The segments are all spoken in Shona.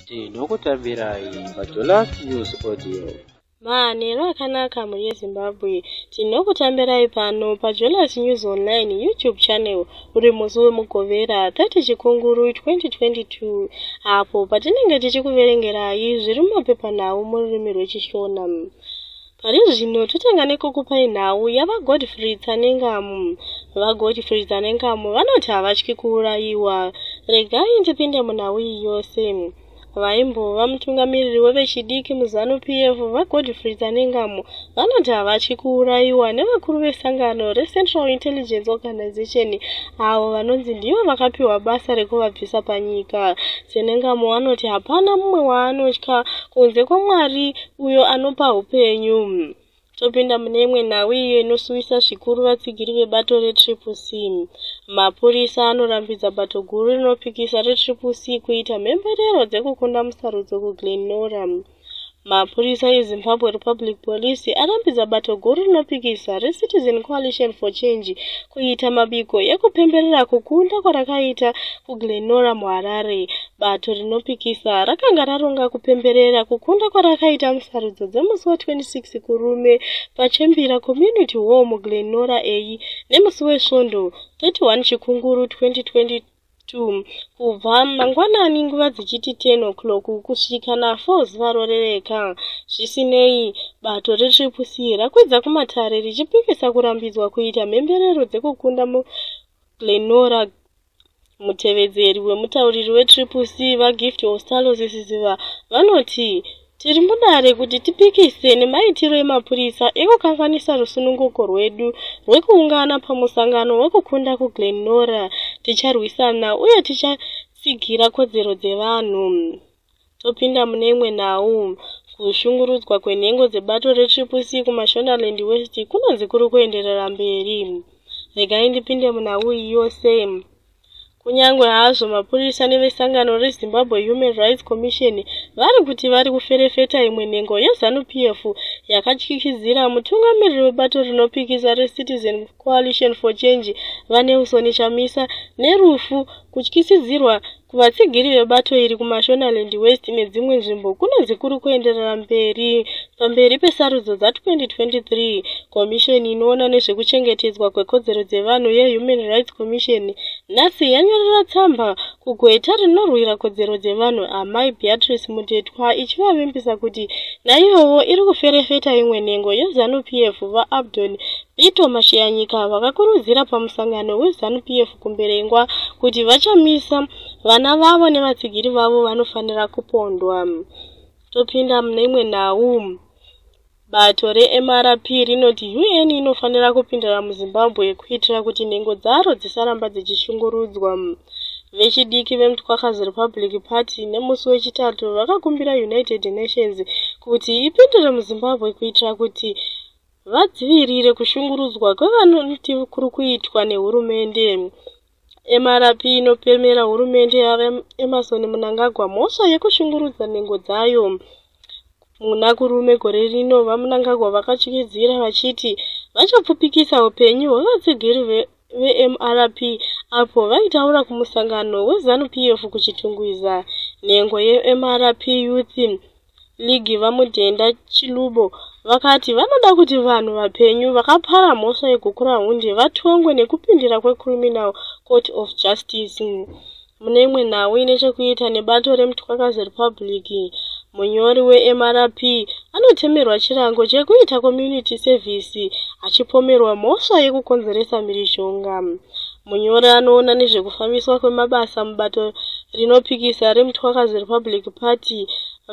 tinokutambirai pajolas news audio mahanero akanaka mhuri yezimbabwe tinokutambirai pano pajolas news online youtube channel uri musi wemugovera 30 chikunguru 2022 apo patinenge tichikuverengerai zviri mumapepanhau mururimi rwechishona Pari zvino totanga nekukupai nhau yaVaGodfrey Tsanengamu. VaGodfrey Tsanengamu vanoti havatyi kuurayiwa. Regai ndipinde munhau iyi yose. Vaimbova mutungamiriri wevechidiki muZanu PF, VaGodfrey Tsanengamu, vanoti havatyi kuurayiwa nevakuru vesangano reCentral Intelligence Organization avo vanonzi ndivo vakapiwa basa rekuvabvisa panyika. Tsanengamu vanoti hapana mumwe waanotya kunze kwaMwari uyo anopa upenyu. Topinda mune imwe nhau iyo inosuwisa zvikuru vatsigiri vebato retriple c. Mapurisa anorambidza bato guru rinopikisa retriple c kuita mhemberero dzekukunda musarudzo kuglen nora. Mapurisa eZimbabwe Republic Police arambidza bato guru rinopikisa reCitizen Coalition for Change kuita mabiko ekupemberera kukunda kwarakaita kuGlenora muHarare Bato rinopikisa rakanga raronga kupemberera kukunda kwarakaita musarudzo dzemusi wa-26 Kurume paChembira Community Hall muGlen Norah A nemusi weSvondo 31 Chikunguru 2022 2 kubva mangwanani nguva dzichiti 10 o'clock kusvika na4 zuva rorereka zvisinei bato retriplec rakwidza kumatare richipikisa kurambidzwa kuita mhemberero dzekukunda muglenora Mutevedzeri wemutauriri weTriple C, VaGift Ostalo Zisiziva, vanoti, Tiri mudare kuti tipikise nemaitiro emapurisa ekukanganisa rusununguko rwedu rwekuungana pamusangano wekukunda kuGlen Norah. Ticharwisana uye tichatsigira kodzero dzevanhu. Topinda mune imwe nhau. Kushungurudzwa kwenhengo dzebato reTriple C kuMashonaland West kunonzi kuri kuenderera mberi. Regai ndipinde munhau iyi yose. Kunyange hazvo mapurisa nevesangano reZimbabwe Human Rights Commission vari kuti vari kuferefeta imwe nhengo yeZanu PF yakatyityidzira mutungamiriri webato rinopikisa reCitizen Coalition for Change, VaNelson Chamisa, nerufu, kutyisidzirwa Kuvatsigiri vebato iri kuMashonaland West nedzimwe nzvimbo kunonzi kuri kuenderera mberi pamberi pesarudzo dza2023. Komisheni inoona nezvekuchengetedzwa kwekodzero dzevanhu yeHuman Rights Commission nhasi yanyorera tsamba kugweta rinorwira kodzero dzevanhu Amai Beatrice Mudetwa ichivavimbisa kuti naiyowo iri kuferefeta imwe nhengo yeZanu PF VaAbdon Bito Mashiyanyika vakakurudzira pamusangano weZanu PF kumberengwa kuti vachamisa vana vavo nevatsigiri vavo vanofanira kupondwa topinda mune imwe nhau bato remrp rinoti un inofanira kupindira muzimbabwe kuitira kuti nhengo dzaro dzisaramba dzichishungurudzwa vechidiki vemutwakazi republic party nemusi wechitatu vakakumbira united nations kuti ipindire muzimbabwe kuitira kuti vadzivirire kushungurudzwa kwevanoti kuri kuitwa nehurumende mrp inopemera hurumende yaemerson munangagwa mhosva yekushungurudza nhengo dzayo muna kurume gore rino vamunangagwa vakatyisidzira vachiti vachapfupikisa upenyu hwevatsigiri vemrp apo vaitaura kumusangano wezanu p f kuchitungwiza nhengo yemrp youth League VaMudenda Chilubo vakati vanoda kuti vanhu vapenyu vakapara mhosva yeGukurahundi vatongwe nekupindira kweCriminal Court of Justice. Mune imwe nhau ine chekuita nebato reMtwakazi Republic, munyori weMRP anotemerwa chirango chekuita community service achipomerwa mhosva yekukonzeresa mhirizhonga. Munyori anoona nezvekufambiswa kwemabasa mubato rinopikisa reMthwakazi Republic Party,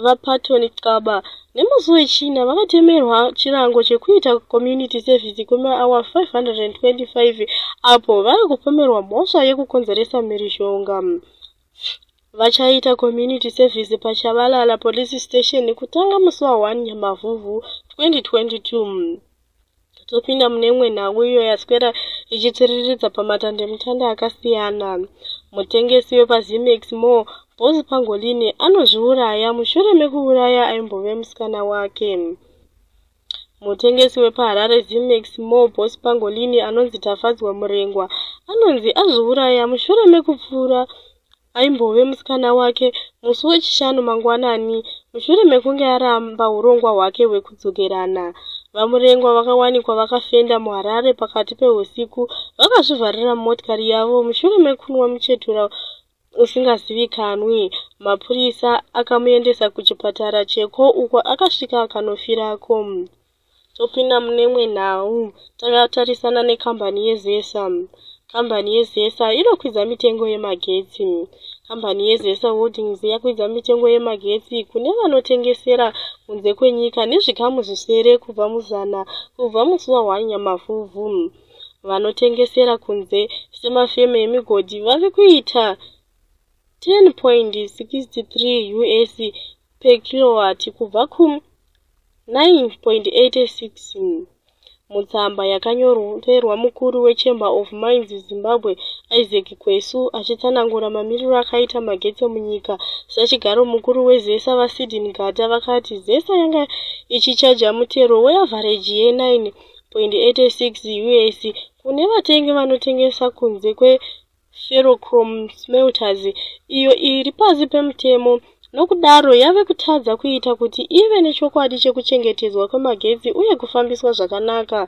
VaParton Xaba, nemusi weChina vakatemerwa chirango chekuita community service kwemaawa 525 apo vari kupomerwa mhosva yekukonzeresa mhirizhonga. Vachaita community service paChabalala Police Station kutanga musi wa 1 Nyamavhuvhu 2022. topinda mune imwe nhau iyo yaswera ichitsiriridza pamatandemutanda akasiyana mutengesi wepazimex mo bos pangolini anozviuraya mushure mekuuraya aimbove musikana wake mutengesi wepaharare zimex mo bos pangolini anonzi tafadzwa murengwa anonzi azviuraya mushure mekupfuura aimbove musikana wake musi wechishanu mangwanani mushure mekunge aramba urongwa hwake hwekudzokerana vamurengwa vakawanikwa vakafenda muharare pakati pehusiku vakazvivharira mumotikari yavo mushure mekunwa muchetura usingazivikanwi mapurisa akamuendesa kuchipatara cheko uko akasvika akanofirako topinda mune imwe nhau takatarisana nekambani yezesa kambani yezesa inokwidza mitengo yemagetsi kambani yezesa holdings yakwidza mitengo yemagetsi kune vanotengesera kunze kwenyika nezvikamu zvisere kubva muzana kubva musi wahwanyamavhuvhu vanotengesera kunze semafeme emigodhi vave kuita 10.63 us pekirowati kubva ku 9.86 mutsamba yakanyorerwa mukuru wechamber of mines zimbabwe isaac kwesu achitsanangura mamiriro akaita magetsi munyika sachigaro mukuru wezesa vasidin gata vakati zesa yanga ichichaja mutero weavhareji ye9 86 us kune vatengi vanotengesa kunze kwe ferrochrome smelters iyo iri pasi pemutemo nokudaro yave kutadza kuita kuti ive nechokwadi chekuchengetedzwa kwemagetsi uye kufambiswa zvakanaka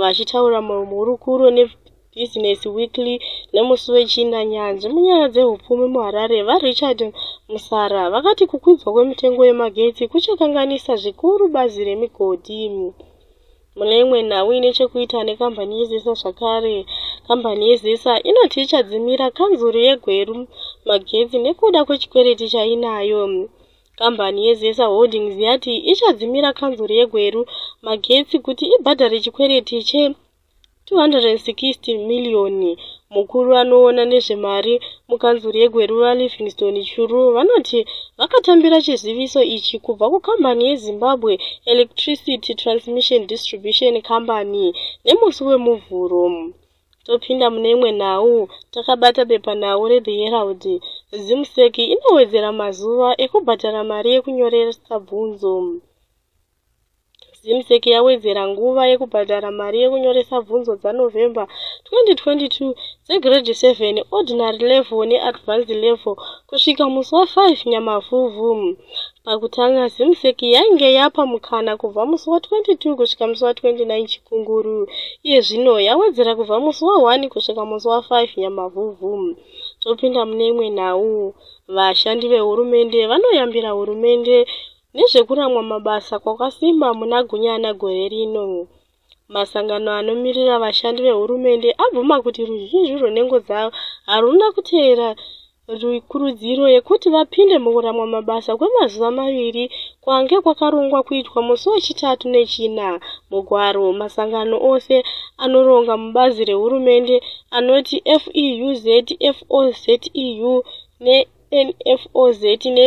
vachitaura muhurukuro nebhizinesi weekly nemusi wechina nyanzvi munyaya dzeupfumi muharare varichard musara vakati kukwidzwa kwemitengo yemagetsi kuchakanganisa zvikuru bazi remigodhi Mune imwe nhau ine chekuita nekambani yeZesa zvakare, kambani yeZesa inoti ichadzimira kanzuru yeGweru magetsi nekuda kwechikwereti chainayo. Kambani yeZesa Holdings yati ichadzimira kanzuru yeGweru magetsi kuti ibhadhare chikwereti che 260 miriyoni. Mukuru anoona nezvemari mukanzuru yeGweruva Livingstone Churu vanoti vakatambira chiziviso ichi kubva kukambani yeZimbabwe Electricity Transmission Distribution Company nemusi weMuvhuro. Topinda mune imwe nhau, takabata bepanhau reThe Herald. ZimSec inowedzera mazuva ekubhadhara mari yekunyoresa bvunzo. zimsec yawedzera nguva yekubhadhara mari yekunyoresa bvunzo dzanovember 2022 dzegrade 7 ordinary level neadvanced level kusvika musi wa 5 nyamavhuvhu pakutanga zimsec yainge yapa mukana kubva musi wa 22 kusvika musi wa 29 chikunguru iye zvino yawedzera kubva musi wa 1 kusvika musi wa 5 nyamavhuvhu topinda mune imwe nhau vashandi vehurumende vanoyambira hurumende Nezvekuramwa mabasa kwakasimba muna Gunyana gore rino, masangano anomirira vashandi vehurumende abvuma kuti ruzhinji rwenhengo dzavo haruna kuteera kurudziro yekuti vapinde mukuramwa mabasa kwemazuva maviri kwange kwakarongwa kuitwa musi wechitatu nechina mugwaro masangano ose anoronga mubazi rehurumende anoti feuz foz eu nenfoz ne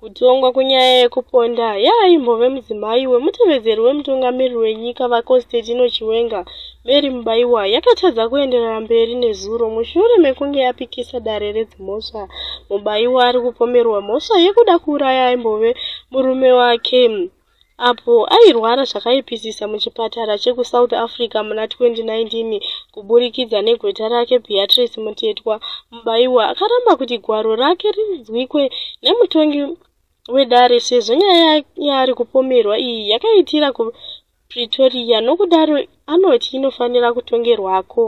Kutongwa kwenyaya yekuponda yeaimbove mudzimai wemutevedzeri wemutungamiriri wenyika VaConstantino Chiwenga, Mary Mubaiwa, yakatadza kuenderera mberi nezuro mushure mekunge yapikisa dare redzimhosva. Mubaiwa ari kupomerwa mhosva yekuda kuuraya aimbove murume wake, apo airwara zvakaipisisa muchipatara chekusouth africa muna 2019 kuburikidza negweta rake beatrice mutetwa mubaiwa akaramba kuti gwaro rake rinzwikwe nemutongi wedare sezvo nyaya yaari kupomerwa iyi yakaitira kupretoria nokudaro anoti inofanira kutongerwako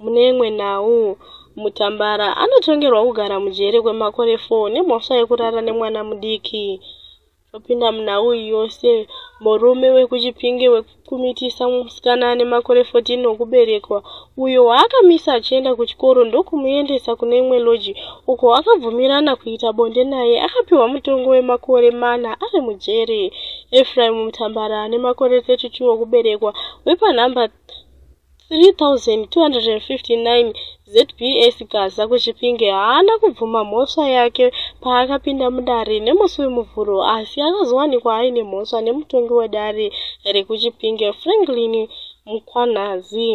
mune imwe nhau mutambara anotongerwa kugara mujere kwemakore 4 nemhosva yekurara nemwana mudiki Topinda munhau iyi yose, murume wekuChipinge wekukumitisa musikana ane makore 14 okuberekwa uyo waakamisa achienda kuchikoro ndokumuendesa kune imwe loji uko akabvumirana kuita bonde naye akapiwa mutongo wemakore mana ari mujeri. Efraim Mutambara ane makore 32 okuberekwa wepanhamba 3259 zbs gaza kuchipinge haana kubvuma mhosva yake paakapinda mudare nemusi wemuvhuro asi akazowanikwa aine mhosva nemutongi wedare rekuchipinge franklin mukwanhazi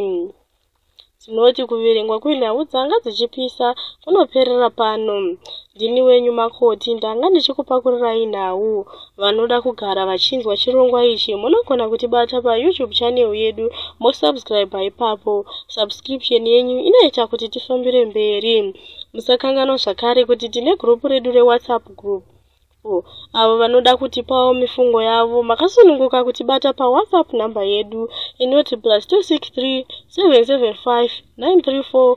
dzinoti kuverengwa kwenhau dzanga dzichipisa kunoperera pano Ndini wenyu makoti, ndanga ndichikupakurirai nhau. Vanoda kugara vachinzwa chirongwa ichi munogona kutibata paYouTube channel yedu mosubscriber ipapo. Subscription yenyu inoita kuti tifambire mberi. Musakanganwa zvakare kuti tine group redu reWhatsApp group avo vanoda kutipawo mifungo yavo makasununguka kutibata pawhatsapp number yedu inoti plus 263 775 934